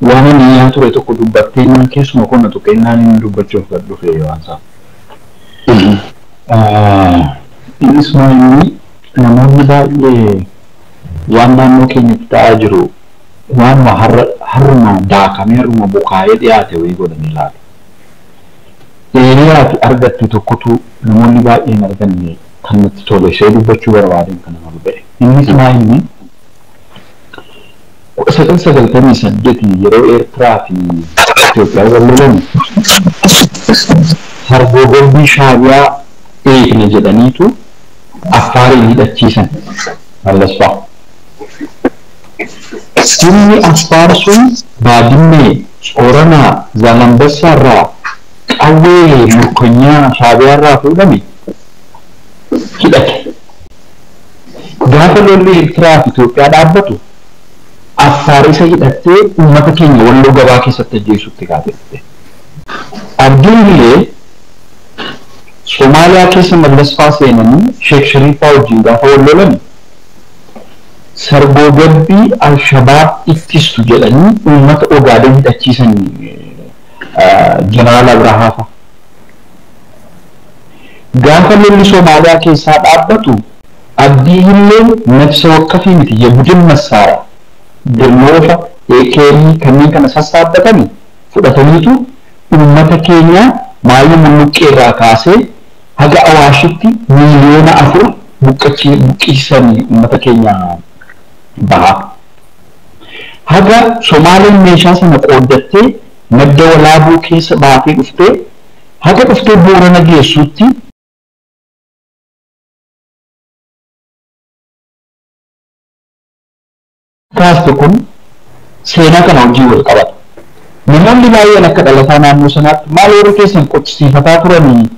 Waan ani iyyaa ture tokko dubbatteennaan keessuma koo na tuqeennaan inni dubbachuuf gad dhufe waan isaa. Innis maa inni namoonni baay'ee waan naannoo keenyatti ta'aa jiru waanuma har'a har'uma daakamee har'uma bukaa'ee dhiyaate wayii godhanii ilaalu. Eeriyaa ati argatte tokkotu namoonni baay'ee hin arganne. kan natti tole ishee dubbachuu barbaadeen kana nama ga'e. Innis maa inni kudha sagal sagaltamii saddeet yeroo Eertiraa fi Itoophiyaan wal lolan hargoogombii Shaabiyaa eegna jedhaniitu Affaariin hidhachiisan Mallas fa'a. Humni Affaar sun Baadimmee, Tsoranaa, Zaalambassaa irraa qawwee murkonyaa Shaabiyaa irraa fuudhame. hidhate. Gaafa lolli Ertiraa fi Itoophiyaa dhaabbatu Affaar isa hidhattee uummata keenya Walloo gabaa keessatti ajjeesuutti kaate turte. Abdiin Hilee Somaaliyaa keessa Mallas faa seenanii Sheek Shariif faa wajjin gaafa wal lolani sargoogabbii Alshabaab ittistu jedhanii uummata Ogaaden hidhachiisani Jeneraal Abrahaa faa. Gaafa lolli Somaaliyaa keessaa dhaabbatu Abdii Hilleen nafse wakkafii miti ye budin massaara, Dirmoofa, AKM kanneen kana sassaabbatani fudhataniitu uummata keenya Maayii Mulluqqee irraa kaasee haga Awaashitti miiliyoona 4 buqqisiisani uummata keenya bahaa. Haga Somaaleen meeshaa sana qooddattee Madda Walaabuu keessa baatee dhuftee haga dhuftee Boorana geessuutti. kaaste kun seenaa kana wajjin wal qabata. Namoonni baay'een akka dhalataa naannoo sanaatti maal warri keessan qochisiifataa turanii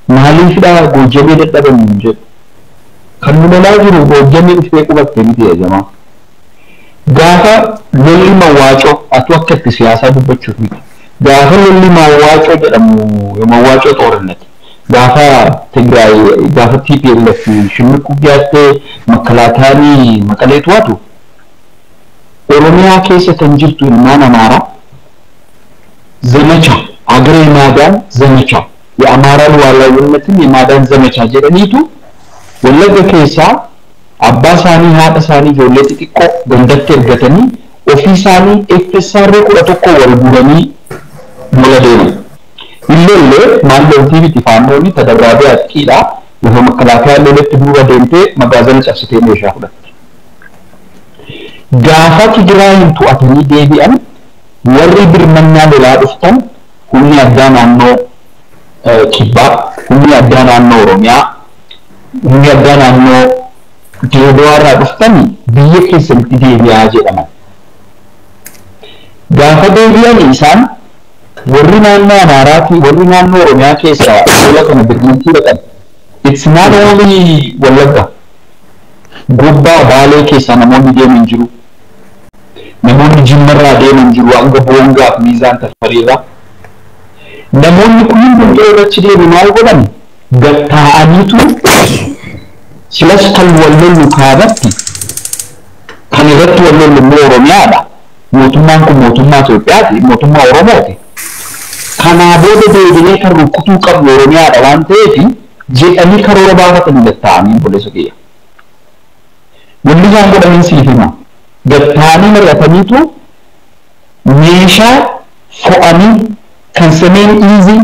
maaliifidha Goojjamee dadhaban nuun jedhu. Kan nu lolaa jiru Goojjamee dhuftee qubatte miti yaa jamaa. Gaafa lolli mawwaacoo atuu akka itti siyaasaa dubbachuuf miti gaafa lolli mawwaacoo jedhamu mawwaacoo xoorinati gaafa Tigraay gaafa tplf shimmiqquuf dhiyaattee makkalaakayaani maqalee tu'atu oromiyaa keessa kan jirtu ilmaan amaaraa zamacha agre imaadaan zamacha ye amaaraa luwaalaawiinnatin imaadaan zamacha jedhaniitu wallagga keessaa Abbaa isaanii, haadha isaanii, ijoollee xixiqqoo gandatti ergatanii ofii isaanii FSRA kudha tokkoon wal guuranii lola deeman. Hin lolle, maal loltii miti faannooni tadarraabee atqii dha, lafa makkalaakayaan loletti duuba deemtee magaazana cabsitee meeshaa fudhatti. Gaafa Tigiraayiin to'atanii deebi'an warri birmannaa lolaa dhuftan humni addaa naannoo kibbaa, humni addaa naannoo Oromiyaa, Humni addaa naannoo Direedawaa irraa dhuftan biyya keessanitti deebi'aa jedhaman. Gaafa deebi'an isaan warri naannoo Amaaraa fi warri naannoo Oromiyaa keessaa lola kana birmattii dhaqan it's not only Wallagga, Gobbaa, Baalee keessaa namoonni deeman jiru. Namoonni Jimma irraa deeman jiru hanga Boongaa fi Miizaan Tafarii irraa. Namoonni kun hundumtuu warri achi deeme maal godhan? Gad taa'aniitu silas kan wal lollu kaabatti kan irratti wal lollu immoo Oromiyaadha. Mootummaan kun mootummaa Itoophiyaati, mootummaa Oromooti. Kanaa booda deebinee kan rukkutuu qabnu Oromiyaadha waan ta'eef jedhanii karoora baafatanii gad taa'anii obboleessa kiyya. Wanni isaan godhaniin siif hima. Gad taa'anii mari'ataniitu meeshaa fo'anii kan semeen iizii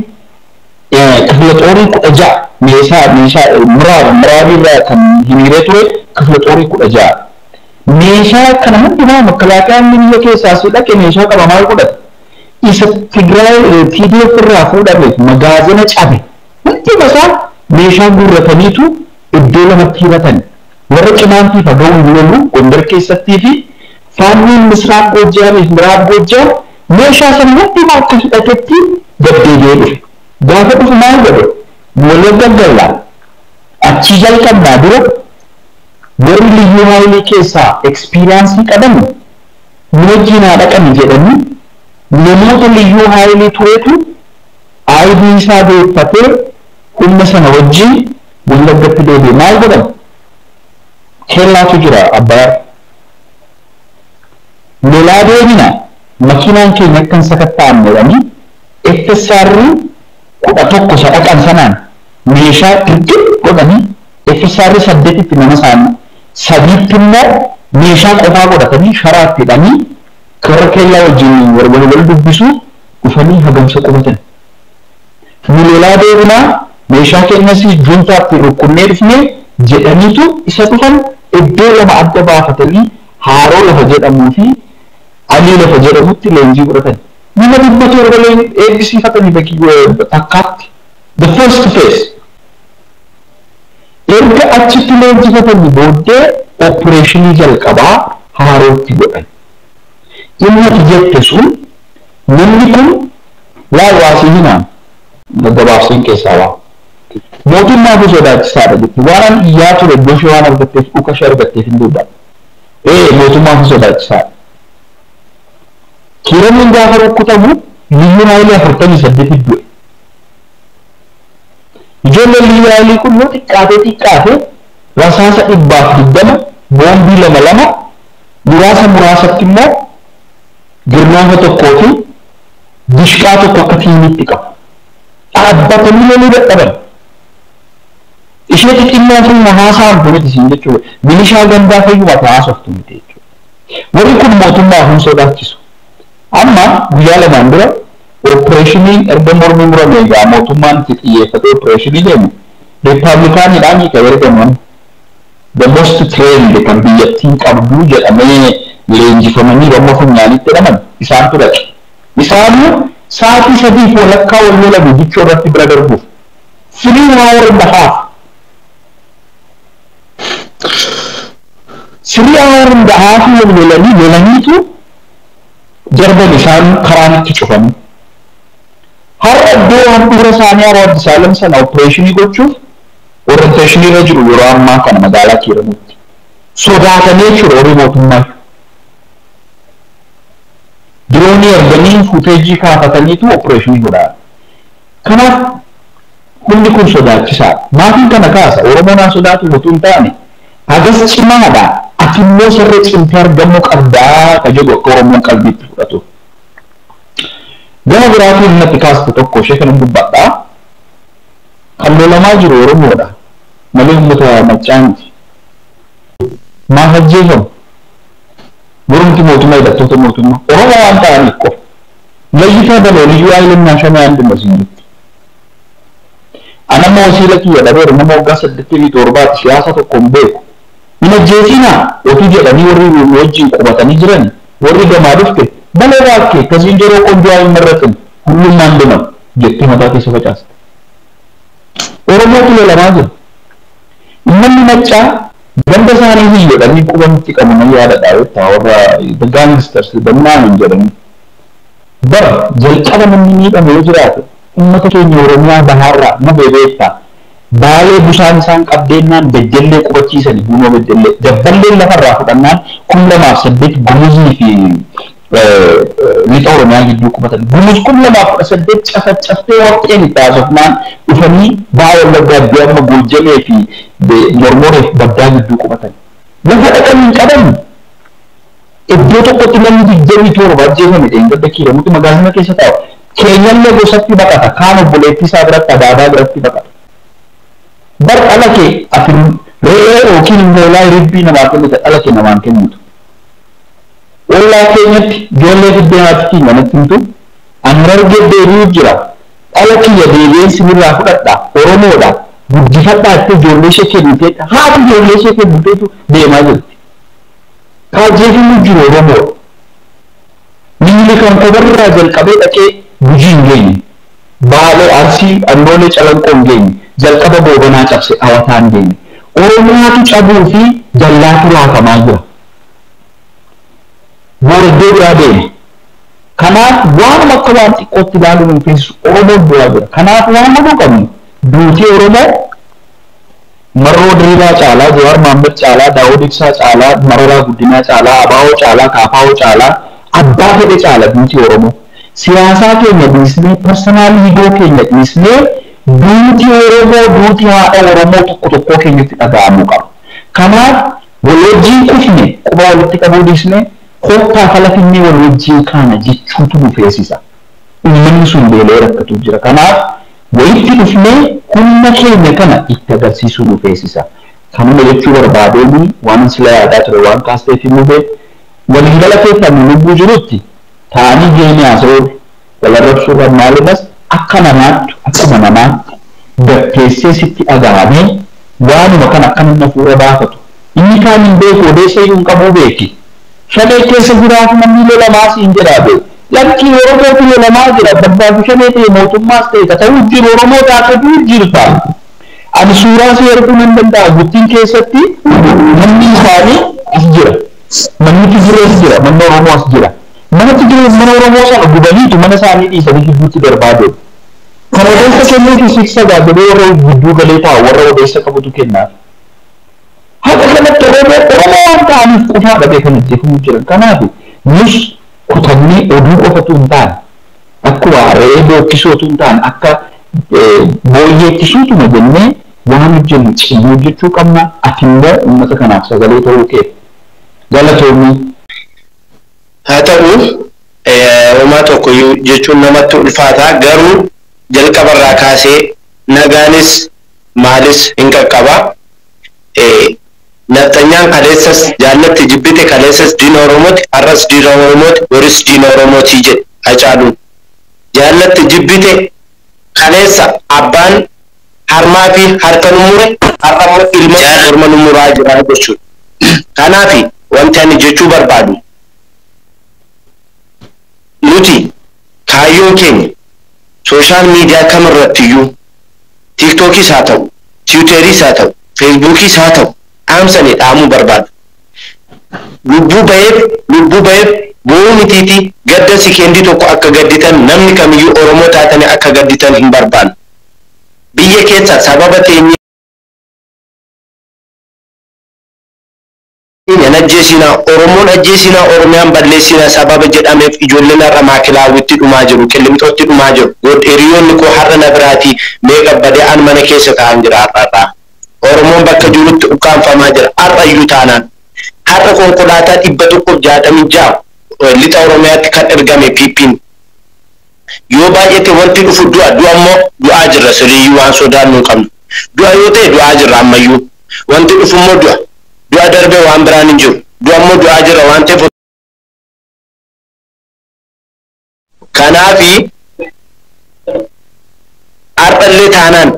Kifla xoorii 16 meesaa, meeshaa, miraab, miraabii irraa kan hiriiree ture kifla xoorii 16 meeshaa kana hundumaa makkalaakayaan inni biyya keessaa asii dhaqe meeshaa qaba maal godhata? Isa Tigraay tdf irraa fuudhameef magaazina cabe hunduma isaa meeshaa guurrataniitu iddoo lamatti hiratan. Warra Qimaantii faga'uun lolu Gondar keessattii fi Faannoon Misraaq Goojjaamii fi Miraab Goojjaam Meeshaa sana hundumaa akka hidhatetti gad deebi'ee dhufe. Gaafa dhufu maal godhe? Wallagga galla. Achii jalqabnaa dura warri Liyyuu Haayilii keessaa experience qaban nu wajjiin haa dhaqani jedhanii namoota Liyyuu Haayilii turetu ID isaa deeffatee humna sana wajjiin Wallaggatti deebi'e. Maal godhan? Kellaatu jira Abbayaarra. lolaa deebina makiinaan keenya akka hin sakatta'amne jedhanii FSR 11 isa dhaqan sanaan meeshaa dirqim godhanii FSR 8tti nama isaanii, 3tti immoo meeshaa qofaa godhatanii sharaatti hidhanii toora keellaa wajjin wal wal dubbisu dhufanii hagamsa qubatan. Nu lolaa deebinaa, meeshaa keenyas Juuntaatti rukkunnee dhufne jedhaniitu isa dhufan iddoo lama adda baafatanii Haaroo lafa jedhamuu fi Alii lafa jedhamutti leenjii fudhatani. Nama dhibba torba eebbisiifatani takkaatti, the first phase. Erga achitti leenjifatanii booddee oppireeshinii jalqabaa Haarootti godhan. Inni ati jette sun. Namni kun laal waa sii himaa gabaabseen keessaa baa. Mootiin naafuu sodaachisaadha jetti. Waanan iyyaa ture booshe waan argatteef dhuka ishee argatteef hin duuba. Ee mootummaafuu sodaachisaadha. Kiiraniin gaafa rukkutamu liyyuun haayilii afurtamii saddeetit du'e. Ijoolleen liyyuu haayilii kun yoo xiqqaatee xiqqaate rasaasa dhibbaaf digdama boombii lama lama muraasa muraasatti immoo Garnaafa tokkoo fi dishqaa tokko akka tiimiitti qabu. Dhaabbatanii loluu dadhaban. Ishee xixinnoo fi na haasa'amtu miti siin jechuu milishaa gandaa fayyuma ati haasoftu miti jechuudha. Warri kun mootummaaf hin sodaachisu. Amma guyyaa lamaan dura oppireeshiniin erga mormi murame egaa mootummaan itti xiyyeeffatee oppireeshinii deeme Rippaablikaaniidhaanii kan ergaman. the most trained kan biyyattiin qabdu jedhamee leenjifamanii Rommo funyaaniitti hidhaman isaantu dhaqe. Isaanuu saatii sadii fi walakkaa wal lolani Dichoo irratti bira darbuuf. Three hour and half. Three hour and half wal lolanii lolaniitu darban isaanuu karaan itti cufanii. Har'a iddoo handhuura isaanii Awaadisaalam sana opereeshinii gochuuf Orientation irra jiru yeroo ammaa kana magaalaa Kiiramuutti. Sodaatanii jechuudha warri mootummaa. Diroonii erganii fuuteejii kaafataniitu opereeshinii godhaa. Kanaaf hundi kun sodaachisaadha. Maatiin kana kaasa. Oromoon haa sodaatu utuu hin taane hagas cimaadha. Ati immoo sarree cimtee argamuu qabdaa ka jedhu akka Oromoon qalbiitti fudhatu. Gama biraatiin natti kaaste tokko ishee kanan dubbadha. Kan lolamaa jiru Oromoodha malee ummata Maccaa miti. Maaf ajjeefamu? Mormiti mootummaa hidhattoota mootummaa Oromoo waan ta'aniif qofa. Layyitaa baloo liyyuu hayilen naashonee and no siin jetti. An amma wasiila kiyya dhabeera nama waggaa saddeettamii torbaati siyaasa tokko hin beeku. Hin ajjeesiinaa otuu jedhanii warri nu wajjiin qubatanii jirani warri gamaa dhufte baloo baakkee ka ziinjeroo qonjoo ayi hin marraxin. Hulluu maan deman jettee mataa keessa facaasta. Oromootu lolamaa jira. Ummanni Maccaa ganda isaanii hin lolanii quba nutti qabu nan yaadadha beektaa warra the gangsters the Minaamin jedhanii. Bar jalqaba namni miidhame yoo jiraate ummata keenya Oromiyaa bahaarraa mube beektaa. Baalee busaan isaan qabdeennaan Beddellee qubachiisani Buunoo Beddellee. Dabballeen lafarraa fudhannaan kum lamaa fi saddeet Gumuzii fi Lixa Oromiyaa gidduu qubatan Gumuz kum lamaa fi kudha saddeet cafacaftee warqeen itti haasofnaan dhufanii Baha Wallaggaa iddoo amma Goojjamee fi Mormoree fi Baddaa gidduu qubatan. Lafa dhaqan hin qaban. Iddoo tokkotti namni digdamii torba ajjeefame dheengadda Kiiramutti magaazina keessa taa'u. Keenyallee gosatti baqata. Kaan obboleettii isaa biratti Adaabaa biratti baqata. Bar dhala kee ati re'ee yookiin hoolaa hiribbii namaa kennita dhala kee namaan kennitu. Ollaa keenyatti ijoollee fiddee haati kiyya natti himtu, An Harargee deebi'uuf jira, dhala kiyya deebi'een sinirraa fudhadha, Oromoodha, guddifadhaa jettee ijoolleeshee kennitee haati ijoolleeshee kenniteetu deemaa jirti. Ka ajjeefamuu jiru Oromoodha. Minilik Ankobarraa jalqabee dhaqee Gujii hin geenye. Baalee, Arsii, Annoolee, Calanqoo hin geenye. Jalqaba Goobanaa cabse dhawataan deeme. Oromotu cabuu fi dallaatu raafamaa jira. Boordee biraa deema. Kanaaf waanuma akka waan xiqqootti ilaaluu nu feesisu Oromoon du'aa jira. Kanaaf waan godhuu qabnu duutii Oromoo Marroo Diriibaa caalaa, Jawaar Maammad caalaa, Daawud Ibsaa caalaa, Mararaa Guddinaa caalaa, ABO caalaa, KFO caalaa, abbaa fedhe caala duutii Oromoo. Siyaasaa keenya dhiisnee, personal ego keenya dhiisnee duutii Oromoo duutii haadha Oromoo tokko tokkoo keenyatti dhaga'amuu qaba. Kanaaf Wal wajjiin kufne, quba walitti qabuu dhiisnee kottaa fala finnee wal wajjiin kaana jechuutu nu feesisa. Ummanni sun beela'ee rakkatuu jira. Kanaaf walitti dhufnee humna keenya kana itti agarsiisuu nu feesisa. Kanuma jechuu barbaadeen waanan sila yaadaa ture waan kaasteef hin mube. Wal hin galateeffannu lubbuu jirutti taa'anii geemii haasa'uurra. Wal arrabsuurra maaliras akka namaattu akkuma namaatti gad teessee sitti dhagahamee waanuma kana akka namni afuura baafatu inni kaan hin beeku odeessayyuu hin qabuu beeki shanee keessa jiraatu namni lolamaa siin jedhaa bee lakkii oromootu lolamaa jira barbaadu shanee ta'e mootummaas ta'e ka ta'uu jiru oromoo taatee du'uu jirta ani suuraa sii erguu nan danda'a guttin keessatti manni isaanii as jira manni tigiree as jira manni oromoo as jira. Mana Tigree ummana Oromoo sana gubaniitu mana isaanii dhiisanii gidduutti darbaa deemu. Kan odeessa kennuufi siif sagaa jedhee warra gidduu galee taa'u warra odeessa qabutu kennaafi. Haga kanatti Oromoo Oromoo waan ta'aniif qofaadha bee kan ajjeefamu jiran. Kanaafi nus kutannee oduu qofa utuu hin taane akkuma re'ee bookkisuu utuu hin taane akka booyyeetti suutuma jennee waan hojjennu cimnee hojjechuu qabna. Atimmoo ummata kanaaf sagalee ta'uu keef galatoomi. Haa ta'u, homaa tokkoyyuu jechuun namatti ulfaata, garuu jalqaba irraa kaasee nagaanis maalis hin qaqqaba. Nafxanyaan kaleessas jaallatti jibbite, kaleessas diina Oromooti, har'as diina Oromooti, boris diina Oromooti jedhe Hacaaluun. Jaallatti jibbite kaleessa abbaan. harmaafi harka nu mure har'ammoo ilmatu morma nu muraa jira jechuudha. Kanaafi wanti ani jechuu barbaadu nuti kaayyoon keenya sooshaal miidiyaa kamirrattiyyuu tiiktokiis haa ta'u, tiwuteriis haa ta'u, feesbuukiis haa ta'u dhaamsa ani dhaamuu barbaadu lubbuu baheef lubbuu baheef boo'uu mitiitii gadda sekeendii tokko akka gadditan namni kamiyyuu Oromoo taatanii akka gadditan hin barbaannu. Biyya keessa sababa teenyee. hin ajjeesiina oromoon ajjeesiina oromiyaan balleessiina sababa jedhameef ijoolleen har'a maakilaawwitti dhumaa jiru qillimxootti dhumaa jiru good hiriyoonni koo har'a na biraatii meeqa badee an mana keessa taa'an jira har'a har'aa oromoon bakka jirutti ukkaamfamaa jira har'a iyyuu taanaan har'a konkolaataa 166 lixa oromiyaatti kan ergame ppn Yoo baay'ate wanti dhufu du'a. Du'a immoo du'aa jirra siriiyyuu waan sodaannu hin qabnu. Du'a yoo ta'e du'aa jirra ammayyuu. Wanti dhufu immoo du'a. Du'a darbe waan biraan hin jiru. Du'a immoo du'aa jirra waan ta'eef osoo. Kanaafi har'a illee taanaan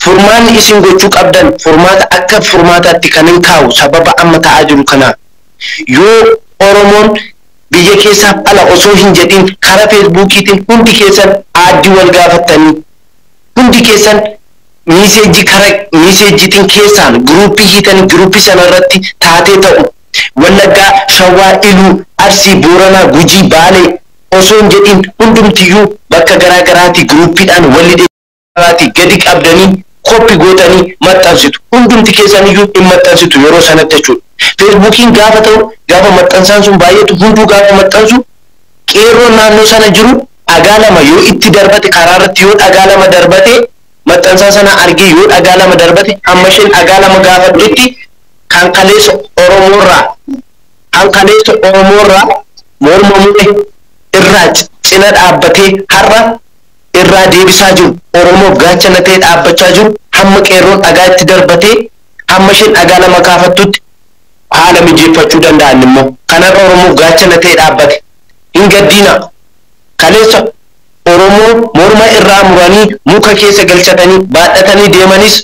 furmaanni isin gochuu qabdan furmaata akka furmaataatti kanin kaa'u sababa amma ta'aa jiru kanaaf. Yoo Oromoon biyya keessaaf ala osoo hin jedhiin kara feesbuukiitiin hundi keessan aaddi wal gaafattanii hundi keessan miiseejjii kara miiseejjiitiin keessaan giruuppii hiitanii giruuppii sana irratti taatee ta'u wallaggaa shawwaa iluu arsii booranaa gujii baalee osoo hin jedhiin hundumtiyyuu bakka garaa garaatii giruuppiidhaan wal irraati gadi qabdanii copy gootanii maxxansitu hundumti keessan iyyuu hin maxxansitu yeroo sanatti jechuudha feesbuukiin gaafa ta'u gaafa maxxansaan sun baay'atu hunduu gaafa maxxansu qeerroon naannoo sana jiru dhagaa lama yoo itti darbate karaa irratti yoo dhagaa lama darbate maxxansaa sana argee yoo dhagaa lama darbate hamma isheen dhagaa lama gaafattutti kan kaleessa Oromoo irraa kan kaleessa Oromoo irraa morma mure irraa cina dhaabbatee har'a irraa deebisaa jiru, Oromoof gaachana ta'ee dhaabbachaa jiru hamma qeerroon dhagaa itti darbatee hamma isheen dhagaa lama kaafattutti haala mijeeffachuu danda'an immoo kan har'a Oromoof gaachana ta'ee dhaabbate. Hin gaddiinaa! Kaleessa Oromoon morma irraa muranii muka keessa galchatanii baadhatanii deemanis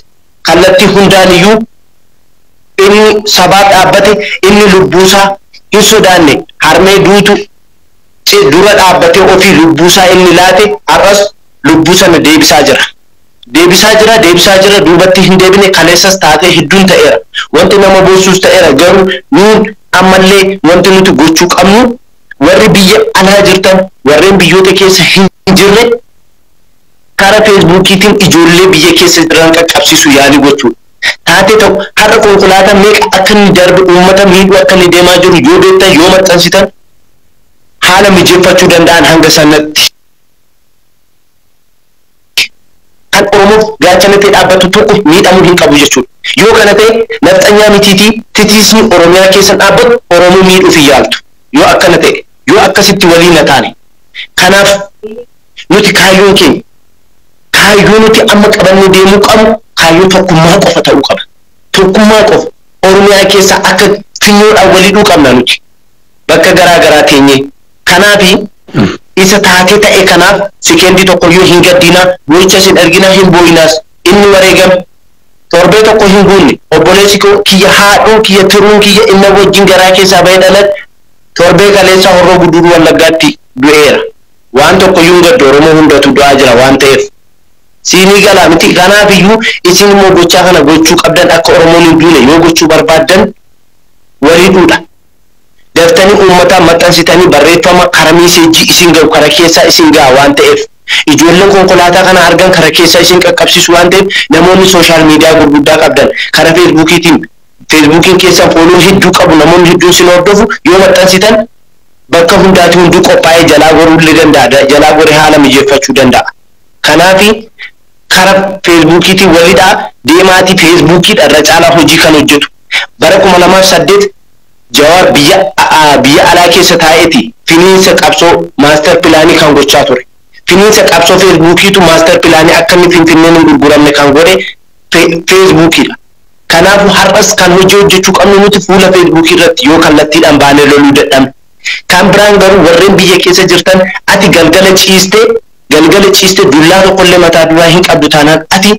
kallattii hundaan iyyuu inni sabaaf dhaabbate, inni lubbuu isaa hin sodaanne, harmee duutu, C. Dura dhaabbatee ofii lubbuu isaa inni laate har'as lubbuu sana deebisaa jira. Deebisaa jira, deebisaa jira, duubatti hin deebine, kaleessas taatee hedduun ta'eera. Wanti nama boonsus ta'eera, garuu nuun ammallee wanti nuti gochuu qabnu warri biyya alaa jirtan warreen biyyoota keessa hin jirre kara feesbuukiitiin ijoollee biyya keessa jiran qaqqabsiisuu yaalii gochuudha. Taatee ta'u har'a konkolaataa meeqa akka inni darbe uummata miidhuu akka inni deemaa jiru yoo beektan, yoo maxxansitan, haala mijeffachuu danda'an hanga sanatti kan Oromoof gaachana ta'e dhaabbattu tokko miidhamuu hin qabu jechuudha. Yoo kana ta'e nafxanyaa mitiitii titiisni Oromiyaa keessan dhaabbattu Oromoo miidhuuf hin yaaltu. Yoo akkana ta'e, yoo akkasitti walii na taane. Kanaaf nuti kaayyoon keenya kaayyoo nuti amma qabannee deemuu qabnu kaayyoo tokkummaa qofa ta'uu qaba. Tokkummaa qofa Oromiyaa keessaa akka finyoodhaan wal hidhuu qabna nuti. bakka garaa garaa teenye kanaafi isa taatee ta'e kanaaf sekeendii tokkoyyuu hin gaddinaa, boo'ichas hin arginaa, hin boo'inaas. Inni wareegame torbee tokko hin guunne, obboleessi koo kiyya, haadhuun kiyya, tiruun kiyya inna wajjin garaa keessaa ba'ee dhalate torbee kaleessaa Horroo Guduruu Wallaggaatti du'eera. Waan tokkoyyuu hin gaddu Oromoo hundatu du'aa jira waan ta'eef. Siinii galaa mitii? Kanaafiyyuu isin immoo gochaa kana gochuu qabdan akka Oromoon hin duune yoo gochuu barbaaddan wal hidhuudha. daftanii uummataan maxxansitanii barreeffama kara miiseejjii isin gahu kana keessaa isin gaha waan ta'eef ijoolleen konkolaataa kana argan kana keessaa isin qaqqabsiisu waan ta'eef namoonni sooshaal miidiyaa gurguddaa qabdan kara feesbuukiitiin feesbuukiin keessan fooloo hedduu qabu namoonni hedduun sin hordofu yoo maxxansitan bakka hundaati hunduu qophaa'ee jalaa goruu illee danda'a jalaa goree haala mijeeffachuu danda'a kanaafi kara feesbuukiitiin wal hidhaa deemaati feesbuukiidha irra caalaa hojii kan hojjetu bara 2008 jawaar biyya biyya alaa keessa taa'eeti finiinsa qabsoo maastar pilaanii kan gochaa ture finiinsa qabsoo feesbuukiitu maastar pilaanii akka inni finfinneen hin gurguramne kan godhe feesbuukiidha kanaafu har'as kan hojii hojjechuu qabnu nuti fuula feesbuukii irratti yoo kallattiidhaan baanee loluu dadhabne kan biraan garuu warreen biyya keessa jirtan ati galgala ciistee Galgala ciiste dullaa tokkollee mataa duraa hin qabdu taanaan ati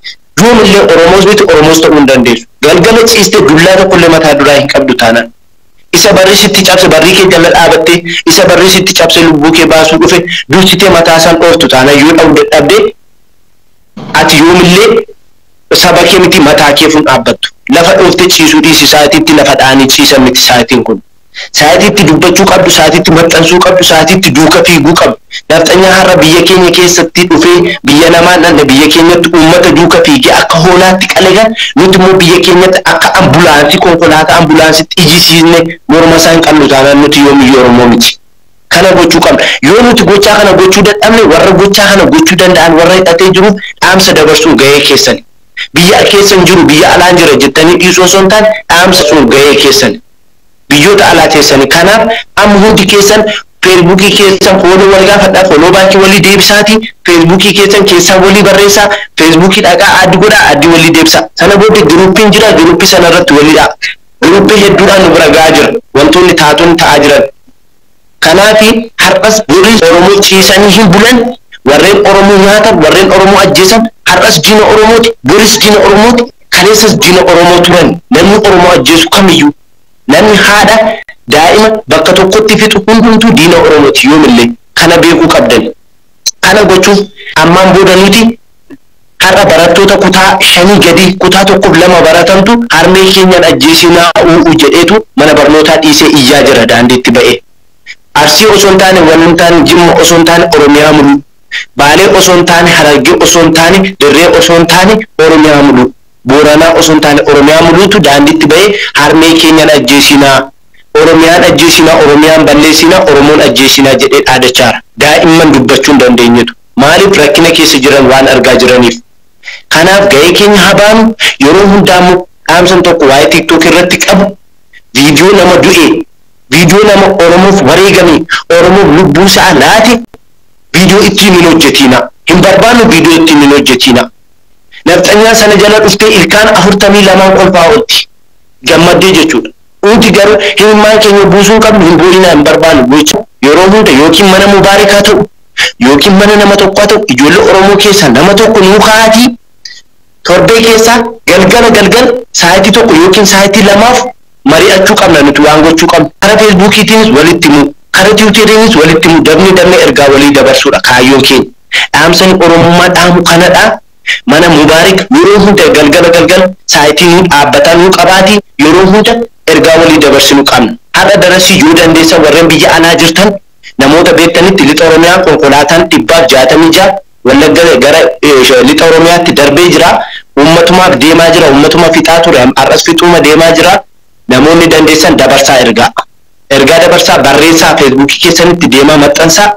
yoomillee Oromoos miti Oromoos ta'uu hin dandeessu. Galgala ciiste dullaa tokkollee mataa duraa hin qabdu taanaan. Isa barri sitti cabse barrii kee jala dhaabattee isa barri sitti cabse lubbuu kee baasuu dhufe dursitee mataa isaan dhooftu taanaan yoo dha'uu dadhabde ati yoomillee saba kee miti mataa keef hin dhaabbattu. Lafa dhooftee ciisuu dhiisi sa'atiitti lafa dha'anii ciisan miti sa'atiin kun. Sa'atii itti dubbachuu qabdu, sa'atii itti maxxansuu qabdu, sa'atii itti duuka fiiguu qabdu. Nafxanyaa har'a biyya keenya keessatti dhufee biyya namaa hin dhaqne biyya keenyatti uummata duuka fiigee akka hoolaatti qale kan nuti immoo biyya keenyatti akka ambulaansii konkolaataa ambulaansiitti ijisiisne morma isaa hin qabnu taanaan nuti yoomiyyuu Oromoo miti. Kana gochuu qabna. Yoo nuti gochaa kana gochuu dadhabne warra gochaa kana gochuu danda'an warra hidhatee jiruuf dhaamsa dabarsuun gahee keessani. Biyya keessa hin jiru biyya alaan jira jettanii dhiisuu osoo hin taane dhaamsa dabarsuun gahee keessani. biyyoota alaa teessani kanaaf amma hundi keessan feesbuukii keessan fooloo wal gaafadhaa foloo baakii walii deebisaati feesbuukii keessan keessaa walii barreessaa feesbuukii dhaqaa add godhaa addii walii deebisaa sana booddee giruuppiin jira giruuppii sana irratti walii dha'a giruuppii hedduudhaan nu bira ga'aa jira wantoonni taatonni ta'aa jiran Kanaafi har'as warri Oromoo ciisanii hin bulan, warreen Oromoo nyaatan, warreen Oromoo ajjeesan har'as diina Oromooti, boris diina Oromooti, kaleessas diina Oromoo turani. Namni Oromoo ajjeesu kamiyyuu, namni haadha, daa'ima bakka tokkotti fixu hundumtuu diina Oromooti yoomillee. Kana beekuu qabdani. Kana gochuuf ammaan booda nuti har'a barattoota kutaa shanii gadii kutaa tokkoof lama baratantu harmee keenyan ajjeesinaa uu'u jedheetu mana barnootaa dhiisee iyyaa jira daandiitti ba'ee. Arsii osoo hin taane wal hin taane Jimma osoo hin taane Oromiyaa muluu. Baalee osoo hin taane Harargee osoo hin taane Dirree osoo hin taane Oromiyaa muluu. Booranaa osoo hin taane Oromiyaa muluutu daandiitti ba'ee harmee keenyan ajjeesinaa. Oromiyaan ajjeesina, Oromiyaan balleessina, Oromoon ajjeesina jedhee dhaadachaara. Daa'imman dubbachuu hin dandeenyetu. Maaliif rakkina keessa jiran waan argaa jiraniif. Kanaaf gahee keenya haa baanu, yeroo hundaa immoo dhaamsan tokko waa'ee TikTok irratti qabu video nama du'ee, video nama Oromoof wareegame, Oromoof lubbuu isaa laate video ittiin hin hojjetiina. Hin barbaannu video ittiin hin hojjetiina. Nafxanyaan sana jala dhuftee ilkaan 42n kolfaa oolti. Gammaddee jechuudha. Nuti garuu imimmaan keenya buusuu hin qabnu, hin boo'inaa, hin barbaannu, boo'icha yeroo hunda yookiin mana Mubaarik haa ta'u yookiin mana nama tokkoo haa ta'u ijoollee Oromoo keessaa nama tokko nuu ka'aatii torbee keessaa galgala galgala sa'aatii tokko yookiin sa'aatii lamaaf mari'achuu qabna nuti waan gochuu qabnu kara Feesbuukiitiinis walitti himuu, kara Tiwuteriinis walitti himuu, dabnee dabnee ergaa walii dabarsuudha kaayyoon keenya. Dhaamsani Oromummaa dhaamu kanadha. Mana Mubarik yeroo hunda galgala galgala saayitii nuu dhaabbataa nuu qabaati yeroo hunda ergaa walii dabarsinu qabna. Har'a darasii yoo dandeessan warren biyya alaa jirtan namoota beektanitti lixa Oromiyaa konkolaataan 166 Wallagga gara lixa Oromiyaatti darbee jira. Uummatumaaf deemaa jira uummatuma fixaa ture har'as fixuuma deemaa jira. Namoonni dandeessan dabarsaa ergaa. Ergaa dabarsaa barreessaa feesbuukii keessanitti deemaa maxxansaa.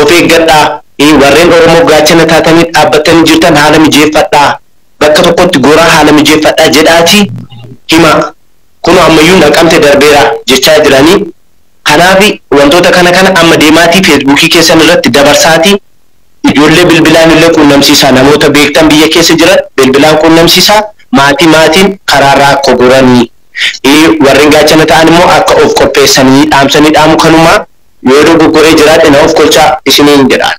Of eeggadhaa! i. Warreen Oromoof gaachana taatanii dhaabbattanii jirtan haala mijeeffadhaa! Bakka tokkotti goraa haala mijeeffadhaa jedhaatii himaa! Kunoo ammayyuu Naqamte darbeera jechaa jiranii. Kanaaf wantoota kana kana amma deemaatii feesbuukii keessan irratti dabarsaatii ijoollee bilbilaan illee quunnamsiisaa! Namoota beektan biyya keessa jiran bilbilaan quunnamsiisaa! Maatii maatiin karaarraa akka goranii! I. Warren gaachana ta'an immoo akka of qopheessanii dhaamsa ni dhaamu kanuma, Yoo dogoggoree jiraadhe na ofkolchaa isiniin jedhaan.